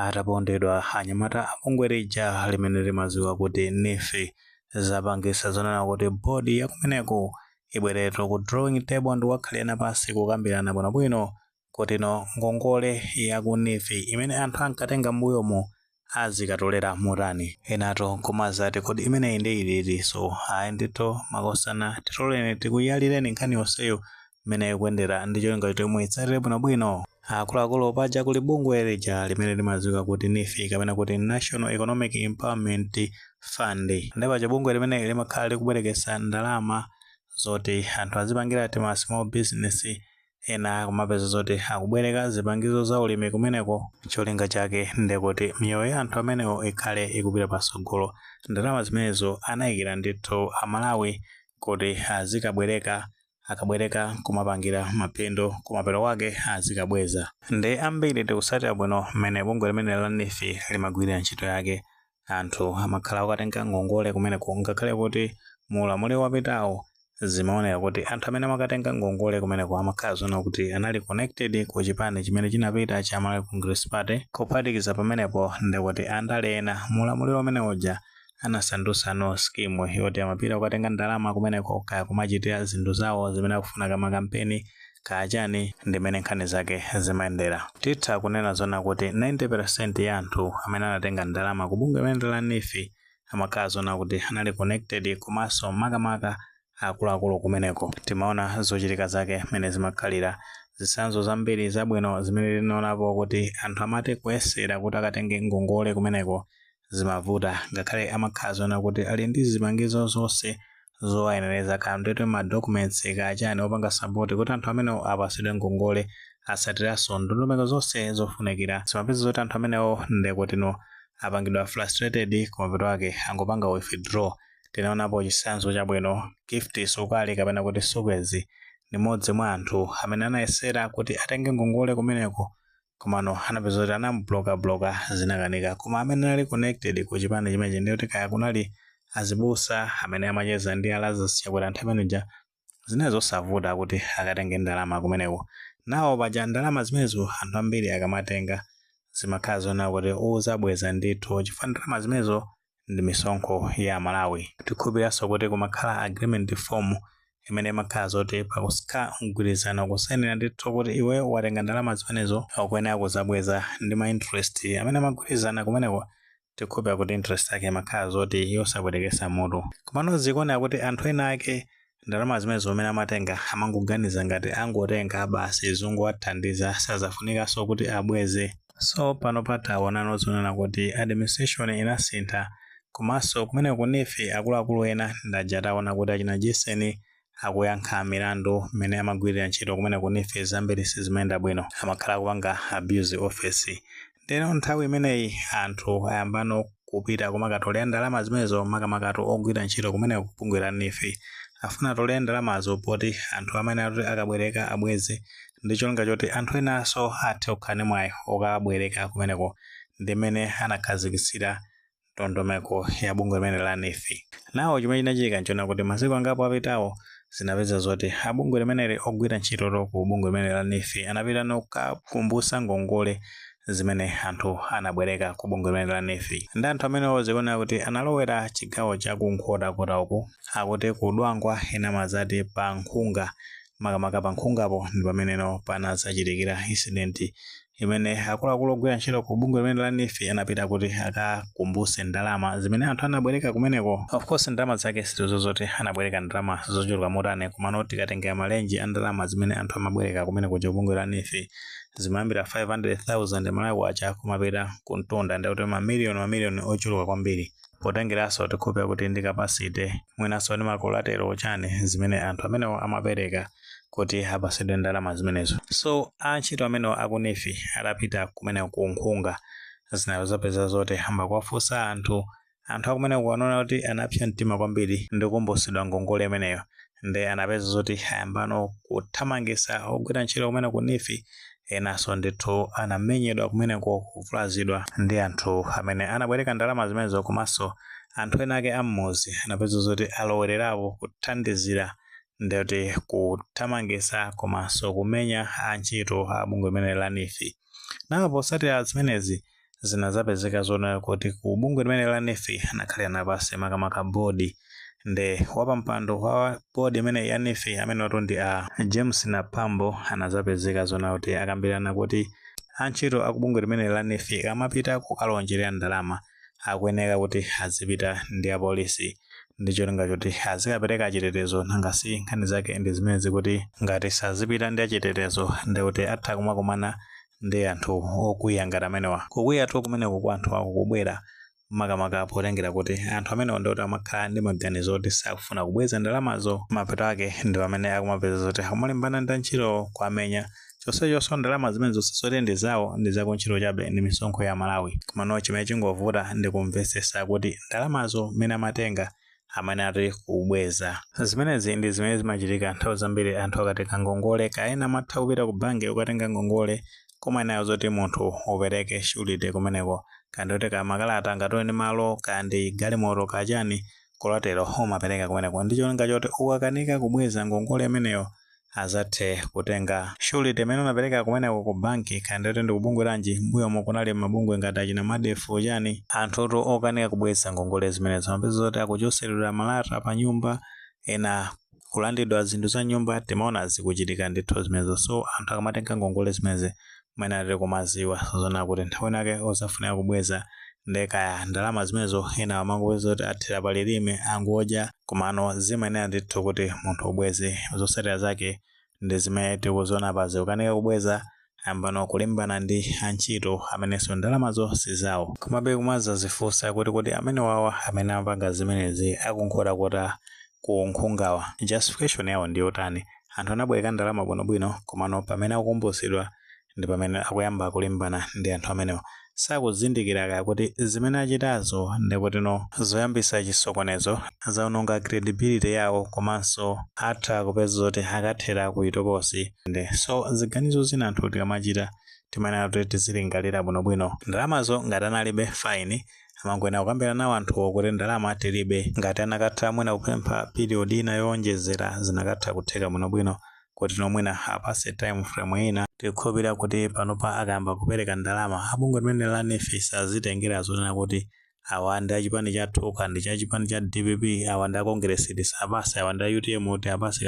atapondedwa anyamata a bungwe lija limene limadziwika kuti NEEF zapangisa zonena kuti bodi yakumeneko ibwererenso ku drawing table ndi kukakhalirana pansi kukambirana bwinobwino kutino ngongole yaku NEEF imene anthu ankatenga m'mbuyomu azikatolera motani. Enatu nkumati kodi imeneyi nde itinso? Ayi ndithu makosana titoleni tikuyalireni nkhani yonseyo mmene ikuyendera ndi cholinga choti muitsatire bwinobwino. Akuluakulu, paja kuli bungwe lija limene limadziwika kuti NEEF kapena kuti National Economic Empowerment Fund. Ndiye paja bungwe limeneli limakhala likubwereketsa ndalama zoti anthu azipangira tima small business ena kumapeza zoti akubwereka zipangizo za ulimi kumeneko. Cholinga chake ndi kuti miyoyo ya anthu amenewo ikhale ikupita patsogolo. Ndalama zimenezo anaikira ndithu Amalawi kuti azikabwereka akabwereka kumapangira mapindu kumapeto kwake azikabweza nde ambiri tikusatira bwino mmene bungwe limeneli la NEEF limagwirira ntchito yake anthu amakhala okatenga ngongole kumeneko ngakhale kuti mu ulamuliro wapitawo zimaoneka kuti anthu amene amakatenga ngongole kumeneko amakhala zoona kuti anali connected ku chipani chimene chinapita cha Malawi Congress Party kuphatikiza pamenepo ndekuti andale ena mu ulamuliro umene uja anasandutsano scheme yoti amapita kukatenga ndalama kumeneko kaya kumachitira zinthu zawo zimene akufuna kaya makampeni kaya chani ndimene nkhani zake zimayendera titha kunena zona kuti 90% ya anthu amene anatenga ndalama ku bungwe limeneli la NEEF amakhala zona kuti anali connected komanso makamaka akuluakulu kumeneko timaona zochitika zake mmene zimakhalira zitsanzo zambiri zabwino zimene tinaonapo kuti anthu amati kuyesera kuti akatenge ngongole kumeneko zimavuta ngakhale amakhala zoona kuti ali ndi zipangizo zonse zowayenereza kandwetwe ma documents kachani opanga support kuti anthu amenewo apasidwe ngongole asatiranso ndondomeko zonse zofunikira zimapeza zoti anthu amenewo ndekutino apangidwa frustrated kumapeto kwake angopanga withdraw tinaonapo chitsanzo chabwino Gift Sukali kapena kuti Sukez ndi mmodzi mwa anthu amene anayesera kuti atenge ngongole kumeneko komano anapeza kuti anamubloka bloka zinakanika koma amene anali connected ku chipani chimenechi ndiye kuti kaya kunali azibusa amene amacheza ndi a Lazarus Chakwera nthawi imeneja zinali zosavuta kuti akatenge ndalama kumeneko now paja ndalama zimenezo anthu ambiri akamatenga zimakhala zonena kuti uzabweza ndithu chifukwa ndalama zimenezo ndi misonkho ya Amalawi. Tikhulupiriranso kuti kumakhala agreement form imene imakhala zoti pakukhala mgwirizano kusainira ndithu kuti iweyo watenga ndalama zimenezo ukuyenera kuzabweza ndi ma interest amene magwirizana kumeneko tikhulupira kuti interest yake imakhala zoti yosapwetekesa mutu. Komano zikuoneka kuti anthu ena ake ndalama zimenezo mmene amatenga amangoganiza ngati angotenga basi zongowathandiza sizafunikanso kuti abweze so pano pataonano zonena kuti administration inasintha komanso kumeneku ku nefi akuluakulu ena ndaja taona kuti achina jeseni akuyankha milandu mmene amagwirira ntchito kumene ku nefi zambiri sizimayenda bwino amakhala akupanga abuse of office ndeno nthawi imeneyi anthu ayambano kupita kumakatolera ndalama zimenezo makamakatu ogwira ntchito kumeneko ku bungwe la nefi afuna atolere ndalamazo poti anthu amene atoti akabwereka abweze ndi cholinga choti anthu enanso athe kukhala ndi mwayi okabwereka kumeneko ndi mmene anakhazikitsira ndondomeko ya bungwe limene la NEEF. Nawo chimene chinachitika nchonena kuti masiku angapo apitawo zinapeza zoti a bungwe limeneli ogwira ntchito ku bungwe limeneli la NEEF anapita no kukakumbusa ngongole zimene anthu anabwereka ku bungwe limeneli la NEEF ndi anthu amenewo zikuoneka kuti analowera chigawo cha ku Nkhotakota uku akuti ku Dwangwa ena amazati pa Nkhunga makamaka pa Nkhungapo ndi pameneno panadzachitikira incident imene akuluakulu ogwira ntchito ku bungwe limene la nefi anapita kuti akakumbuse ndalama zimene anthu anabwereka kumeneko of course ndalama zake sitikudziwa zoti anabwereka ndalama zochuluka motani komano tikatengera malenji a ndalama zimene anthu amabwereka kumeneko ku bungwe la nefi zimayambira 500,000 malawi kwacha kumapita ku mtunda ndikuti mamiliyoni mamiliyoni ochuluka kwambiri potengeranso tikhulupira kuti ndi capacity mwinanso ndi makolatero chani zimene anthu amenewo amapereka kuti apasidwe ndalama zimenezo so antchito amenewo aku nefi atapita kumene ku nkhunga zinazapeza zoti ayamba kuwafunsa anthu anthu akumeneku anaona kuti anapsa mtima kwambiri ndi kukumbusidwa ngongole imeneyo nde anapeza zoti ayambano kuthamangisa ogwira ntchito kumeneku nefi enaso ndithu anamenyedwa kumeneko kuvulazidwa ndi anthu amene anabwereka ndalama zimenezo komanso anthu ena ake ammuzi anapeza zoti alowererapo kuthandizira ndikuti kuthamangitsa komanso kumenya antchito a bungwe limene la nefi nawo potsatira zimenezi zinadzapezeka zonena kuti ku bungwe limene la nefi anakhalirana pansi makamaka bodi nde wapampando wa bodi imene ya nefi amene atu ndi a james naphambo anadzapezeka zonena kuti akambirana kuti antchito a ku bungwe limene la nefi akamapita kukalonjerera ndalama akuyeneka kuti azipita ndi apolisi ndi cholinga choti azikapereka chitetezo nanga si nkhani zake ndi zimenezi kuti ngati sazipita ndi achitetezo ndi kuti atha kumakumana ndi anthu okwiya ngati amenewa kukwiyatu kumeneko kwa anthu akukubwera makamaka potengera kuti anthu amenewa ndi kuti amakhala ndi maganizo oti sakufuna kubweza ndalamazo mapeto ake ndi pamene akumapeza zoti akumalimbana ndi antchito kuwamenya chonsechoso ndalama zimenezo si zoti ndi zawo ndi za kuntchito chabe ndi misonkho ya aMalawi komano chimene chingovuta ndi kumvesesa kuti ndalamazo mmene amatenga amene ati kubweza zimenezi ndi zimene zimachitika nthawi zambiri anthu akatenga ngongole kaya amatha kupita ku banki ukatenga ngongole koma inayo zoti munthu upereke surety kumeneko kaya ndi kuti kaya makalata ngatiwe ndi malo kaya ndi galimoto kaya chani collateral umapereka kumeneko ndi cholinga choti ukakanika kubweza ngongole imeneyo azathe kutenga surety imene unapereka kumeneko ku banki kaya nditati ndi kubungwe lanji mbuyomo kunali mabungwe ngati achina madef chani anthutu okanika kubweza ngongole zimenezo amapezeka zoti akuchotseredwa malata pa nyumba ena kulandidwa zinthu za m'nyumba timaona zikuchitika ndithu zimenezo so anthu akamatenga ngongole zimenezi amayenera kumaziwa zonena kuti nthawi nake uzafunika kubweza nde kaya ndalama zimenezo ena amangopeza kuti athera palilime angodya komano zimayenera ndithu kuti munthu ubweze zotsatira zake ndi zimene tikuzona apazi akukanika kubweza ayamba no kulimbana ndi antchito amenenso ndalamazo sizawo komabe kumazazifunsa kuti kodi amene wawa amene amapanga zimenezi aku Nkhotakota ku Nkhungawa justification yawo ndiyotani? Anthu anabwereka ndalama bwinobwino komano pamene akukumbutsidwa ndipamene akuyamba kulimbana ndi anthu amenewa. Sakuzindikira kaya kuti zimene achitazo ndekutino zoyambitsa chisokonezo, zaononga credibility yawo komanso atha kupezeka zoti akathera kuchitokosi nde so ziganizo zina anthu tikamachita timayenera kuti tizilingalira bwinobwino. Ndalamazo ngati analibe fine. amangoyenera kukambirana nawo anthuwo kuti ndalama tilibe ngati anakatha mwina kupempha period ina yowonjezera zinakatha kutheka bwinobwino kutino mwina awapase time frame ina tikukhulupirira kuti panopa akayamba kupereka ndalama a bungwe limeneli la neef asazitengera zonena kuti awa ndi achipani chathu kaya ndi cha chipani cha dpp awa ndi akongeresi tisawapase awa ndi a utm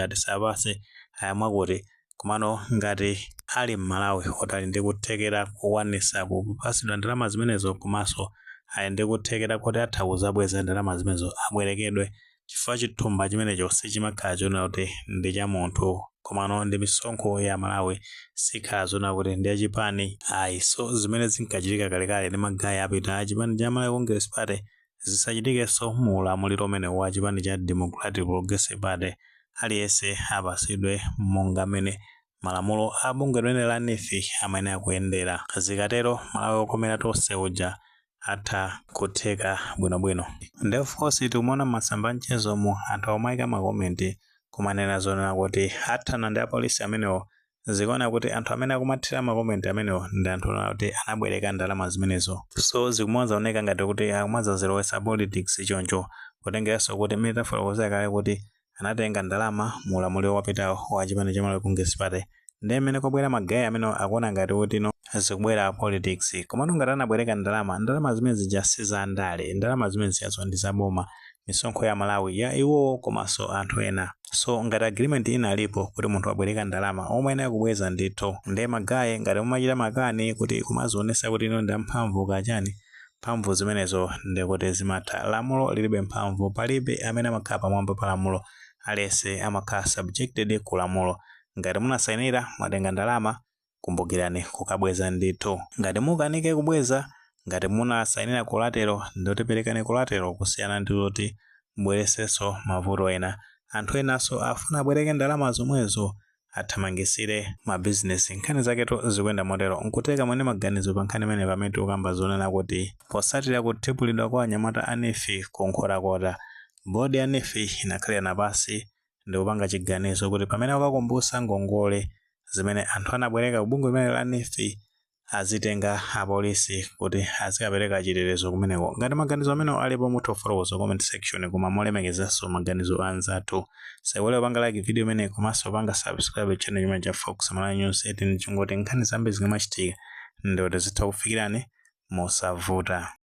tisawapase ayi mwakuti komano ngati ali mmalawi oti ali ndi kuthekera kokwanisa kupasidwa ndalama zimenezo komanso ali ndi kuthekera koti atha kuzabweza ndalama zimenezo abwerekedwe chifukwa chithumba chimenecho sichimakhala chonena kuti ndi cha munthu komano ndi misonkho ya amalawi sikhala zonena kuti ndi ya chipani ayi so zimene zinkachitika kalekale ndi ma guy apitawa a chipani cha malawi congress party zisachitikenso mu ulamuliro umenewu wa chipani cha Democratic Progressive Party, aliyense apasidwe monga mmene malamulo a bungwe limeneli la neef amayenera kuyendera. Zikatero Malawi okomera tonse uja atha kutheka bwinobwino. Nde of course tikumaona m'masamba a mchezomu anthu akumaika ma comment kumanena zonena kuti athana ndi apolisi amenewo zikuona kuti anthu amene akumathira ma comment amenewo ndi anthu oti anabwereka ndalama zimenezo so zikumazaoneka ngati kuti akumazazilowesa politics choncho kutengeranso kuti mmene tafotokozera kale kuti anatenga ndalama mu ulamuliro wapitawo wa chipani cha Malawi Congress Party nde mmene kwabwera magaye amenewo akuona ngati kuti zikubwera politics komano ngati anabwereka ndalama ndalama zimene zija si za ndale ndalama zimene zijazo ndi za boma misonkho ya a Malawi ya iwowo komanso anthu ena so ngati agreement inalipo kuti munthu wabweleka ndalama omayenera kubweza ndithu nde magaye ngati mumachita makani kuti kumazionesa kuti inuyo ndi amphamvu ka chani mphamvu zimenezo ndekuti zimatha lamulo lilibe mphamvu palibe amene amakhala pamwamba pa lamulo aliyese amakhala subjected ku lamulo ngati munasayinira mwatenga ndalama Kumbukirani kukabweza ndithu. Ngati mukanike kubweza, ngati munasainira collateral ndiye perekani collateral kusiyana ndi kuti mubweresenso mavuto ena. Anthu enanso afuna abwereke ndalama zomwezo athamangisire ma business. Nkhani zaketu zikuyenda motero. Nkutheka muli ndi maganizo pa nkhani imene pamene tikukamba zonena kuti posatira kuthibulidwa kwa anyamata a neef ku Nkhotakota, board ya neef inakhalirana pansi ndi kupanga chiganizo kuti pamene akakumbutsa ngongole zimene anthu anabwereka ku bungwe limene la NEEF azitenga apolisi kuti azikapereka chitetezo kumeneko. Ngati maganizo amene alipo mutha kufotokoza comment section koma molemekezanso maganizo a anzathu. Saiwale kupanga like video imene komanso panga subscribe channel chimene cha Fox Malawi News 18 cholinga choti nkhani zambiri zikamachitika nde tizitha kufikirani mosavuta.